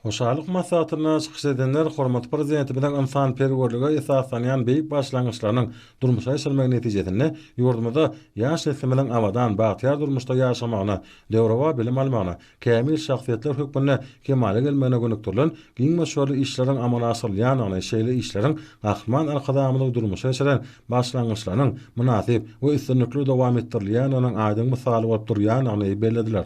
Hoşallyk maslahatynda çykyş edenler hormatly Prezidentimiziň ynsanperwerlige esaslanýan beýik başlangyçlarynyň durmuşa geçirilmegi netijesinde ýurdumyzda ýaş neslimiziň abadan, bagtyýar durmuşda ýaşamagyna, döwrebap bilim almagyna, kämil şahsyýetler hökmünde kemala gelmegine gönükdirilen giň möçberli işleriň amala aşyrylýandygyny, şeýle işleriň Gahryman Arkadagymyzyň durmuşa geçiren başlangyçlarynyň mynasyp we üstünlikli dowam etdirilýändiginiň aýdyň mysaly bolup durýandygyny bellediler.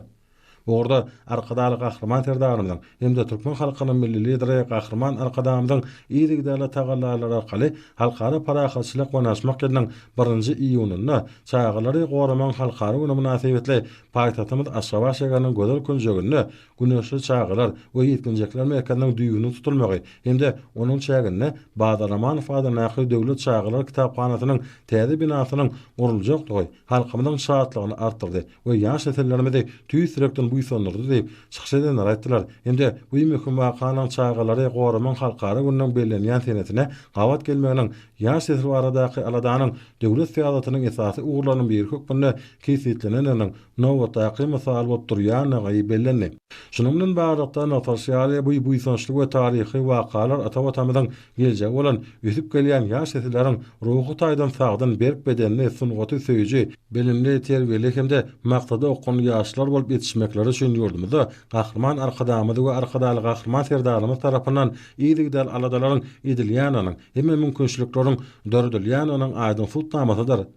Bu ugurda Arkadagly Gahryman Serdarymyzyň hem-de türkmen halkynyň Milli Lideri Gahryman Arkadagymyzyň yzygiderli tagallalary arkaly Halkara parahatçylyk we ynaşmak ýylynyň birinji iýunynda Çagalary goramagyň halkara güni mynasybetli paýtagtymyz Aşgabat şäheriniň gözel künjeginde Güneşli çagalar we ýetginjekler merkeziniň düýbüniň tutulmagy hem-de onuň çäginde Bazar Amanow adyndaky Döwlet çagalar kitaphanasynyň täze binasynyň guruljakdygy halkymyzyň şatlygyny artdyrdy we ýaş nesillerimizi tüýs ýürekden buýsandyrdy diýip, çykyş edenler aýtdylar. Indi bu möhüm wakanyň Çagalary goramagyň halkara gününiň bellenýän senesine gabat gelmeginiň ýaş nesil baradaky aladanyň döwlet syýasatynyň esasy ugurlarynyň biri hökmünde kesgitlenendiginiň nobatdaky mysaly bolup durýandygy bellendi. Şunuň bilen baglylykda nygtalyşy ýaly, bu buýsançly we taryhy wakalar ata Watanymyzyň Geljegi bolan ösüp gelýän ýaş nesilleriň ruhy taýdan sagdyn, berk bedenli, sungaty söýüji, bilimli, terbiýeli hem-de maksada okgunly ýaşlar bolup ýetişmekleri üçin ýurdumyzda Gahryman Arkadagymyz we Arkadagly Gahryman Serdarymyz tarapyndan yzygider aladalaryň edilýändiginiň, hemme mümkinçilikleriň döredilýändiginiň aýdyň subutnamasydyr.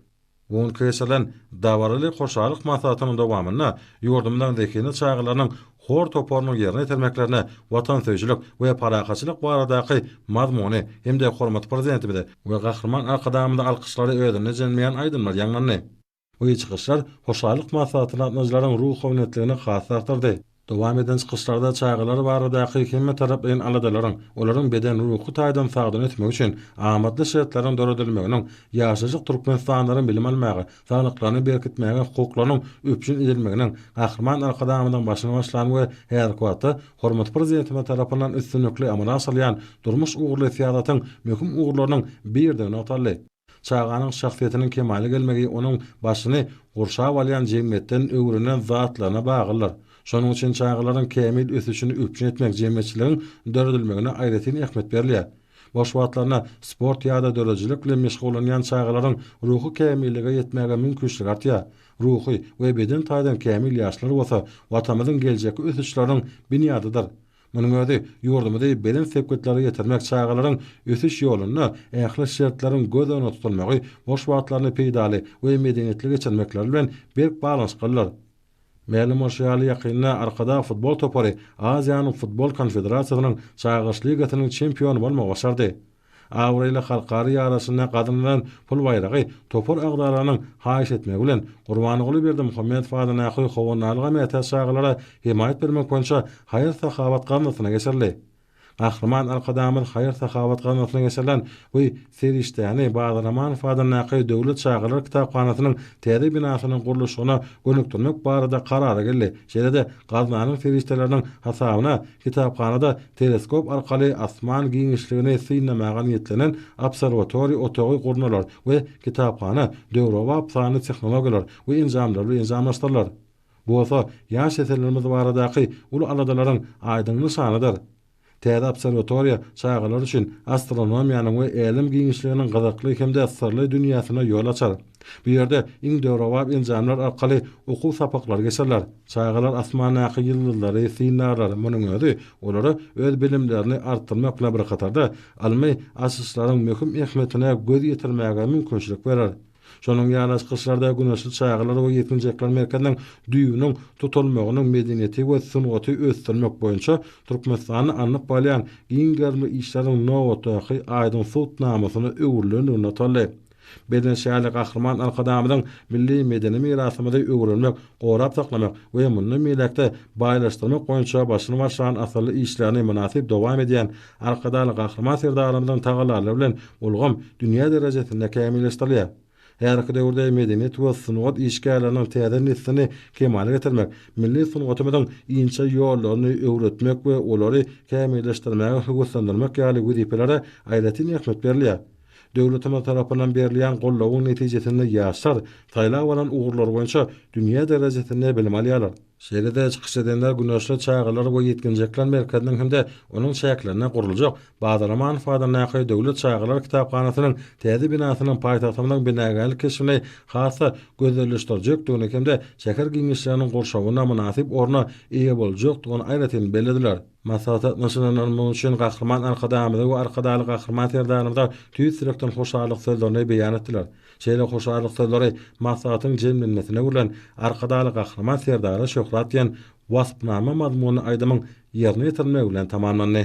Bu gün geçirilen dabaraly hoşallyk maslahatynyň dowamynda ýurdumyzyň zehinli çagalarynyň hor toparynyň ýerine ýetirmeklerine watansöýüjilik we parahatçylyk baradaky mazmuny hem-de hormatly Prezidentimize we Gahryman Arkadagymyza alkyşlary özünde jemleýän aýdymlar ýaňlandy. Bu çykyşlar hoşallyk maslahatyny gatnadyjylaryň ruhubelentligini has artdyrdy. Dowam eden çykyşlarda çagalar baradaky hemmetaraplaýyn aladalaryň, olaryň beden-ruhy taýdan sagdyn ösmegi üçin amatly şertleriň döredilmeginiň, ýaşajyk türkmenistanlaryň bilim almaga, saglyklaryny berkitmäge hukuklarynyň üpjün edilmeginiň Gahryman Arkadagymyzyň başyny başlan we häzirki wagtda hormatly Prezidentimiz tarapyndan üstünlikli amala aşyrylýan durmuş ugurly syýasatyň möhüm ugurlarynyň biridi nygtaldy. Çaganyň şahsyýetiniň kemala gelmegi onuň başyny gurşap alýan jemgyýetden öwrenen zatlaryna baglydyr. Şonuň üçin çagalaryň kämil ösüşini üpjün etmek jemgyýetçiligiň döredilmegine aýratyn ähmiýet berilýär. Boş wagtlarynda sport ýa-da döredijilik bilen meşgullanýan çagalaryň ruhy kämillige ýetmäge mümkinçiligi artýar. Ruhy we beden taýdan kämil ýaşlar bolsa Watanymyzyň geljekki ösüşleriniň binýadydyr. Munuň özi ýurdumyzy belent sepgitlere ýetirmek çagalaryň ösüş ýolunda ähli şertleriň göz öňünde tutulmagy, boş wagtlaryny peýdaly we medeniýetli geçirmekleri bilen berk baglanyşyklydyr. Mälim bolşy ýaly, ýakynda Arkadag futbol topary Aziýanyň Futbol konfederasiýasynyň Çagyryş ligasynyň çempiony bolmagy başardy. Abraýly halkara ýarysynda gazanylan pul baýragy topar agzalarynyň haýyş etmegi bilen, Gurbanguly Berdimuhamedow adyndaky Howandarlyga mätäç çagalara hemaýat bermek boýunça haýyr-sahawat gaznasyna geçirildi. Gahryman Arkadagymyz haýyr-sahawat gaznasyna geçirilen bu serişdäni Badyr Amanow adyndaky Döwlet çagalar kitaphanasynyň täze binasynyň gurluşygyna gönükdirmek barada karara geldi, şeýle-de gaznanyň serişdeleriniň hasabyna kitaphanada Teleskop arkaly asman giňişligini synlamaga niýetlenen obserwatoriýa otagy gurnalar we kitaphana döwrebap sanly tehnologiýalar we enjamlar bilen enjamlaşdyrylar. Bu bolsa ýaş nesillerimiz baradaky uly aladalaryň aýdyň nyşanydyr. Täze obserwatoriýa çagalar üçin astronomiýanyň we älem giňişliginiň gyzykly hem-de syrly dünýäsine ýol açar. Bu ýerde iň döwrebap enjamlar arkaly okuw sapaklary geçiriler. Çagalar asmandaky ýyldyzlary synarlar, munuň özi olara öz bilimlerini artdyrmak bilen bir hatarda, ylmy açyşlaryň möhüm ähmiýetine göz ýetirmäge mümkinçilik berer. Şonuň ýaly çykyşlarda Güneşli çagalar we ýetginjekler merkeziniň düýbüniň tutulmagynyň medeniýeti we sungaty ösdürmek boýunça Türkmenistanda alnyp barylýan giň gerimli işleriň nobatdaky aýdyň sud namasyna öwrülenligi nygtaldy. Biznes şäherli Gahryman Arkadagymyzyň milli medeni mirasymyzy öwrenmek, gorap saklamak we mundan beýläk-de baýlaşdyrmak boýunça başyny başlan asylly işlerini mynasyp dowam edýän Arkadagly Gahryman Serdarymyzyň tagallalary bilen ulgam dünýä derejesinde kämilleşdirilýär. Häzirki döwürde medeniýet we sungat işgärleriniň täze neslini kemala getirmek, milli sungatymyzyň inçe ýollaryny öwretmek we olary kämilleşdirmäge höweslendirmek ýaly wezipelere aýratyn ähmiýet berilýär. Döwletimiz tarapyndan berilýän goldawyň netijesinde ýaşlar saýlap alan ugurlary boýunça dünýä derejesinde bilim alýarlar. Şeýle-de çykyş edenler Güneşli çagalar we ýetginjekler merkeziniň hem-de onuň çäklerinde gurluljak Bazar Amanow adyndaky Döwlet çagalar kitaphanasynyň täze binasynyň paýtagtymyzyň binagärlik keşbini has-da gözelleşdirjekdigini hem-de şäher giňişliginiň gurşawyna mynasyp orna eýe boljakdygyny aýratyn bellediler. Maslahata gatnaşylanlar munuň üçin Gahryman Arkadagymyza we Arkadagly Gahryman Serdarymyza tüýs ýürekden hoşallyk sözlerini beýan etdiler. Şeýle hoşallyk sözleri maslahatyň jemlenmesine gurlan Arkadagly Gahryman Serdara şöhrat diýen waspnama mazmunly aýdymyň ýerine ýetirilmegi bilen tamamlandy.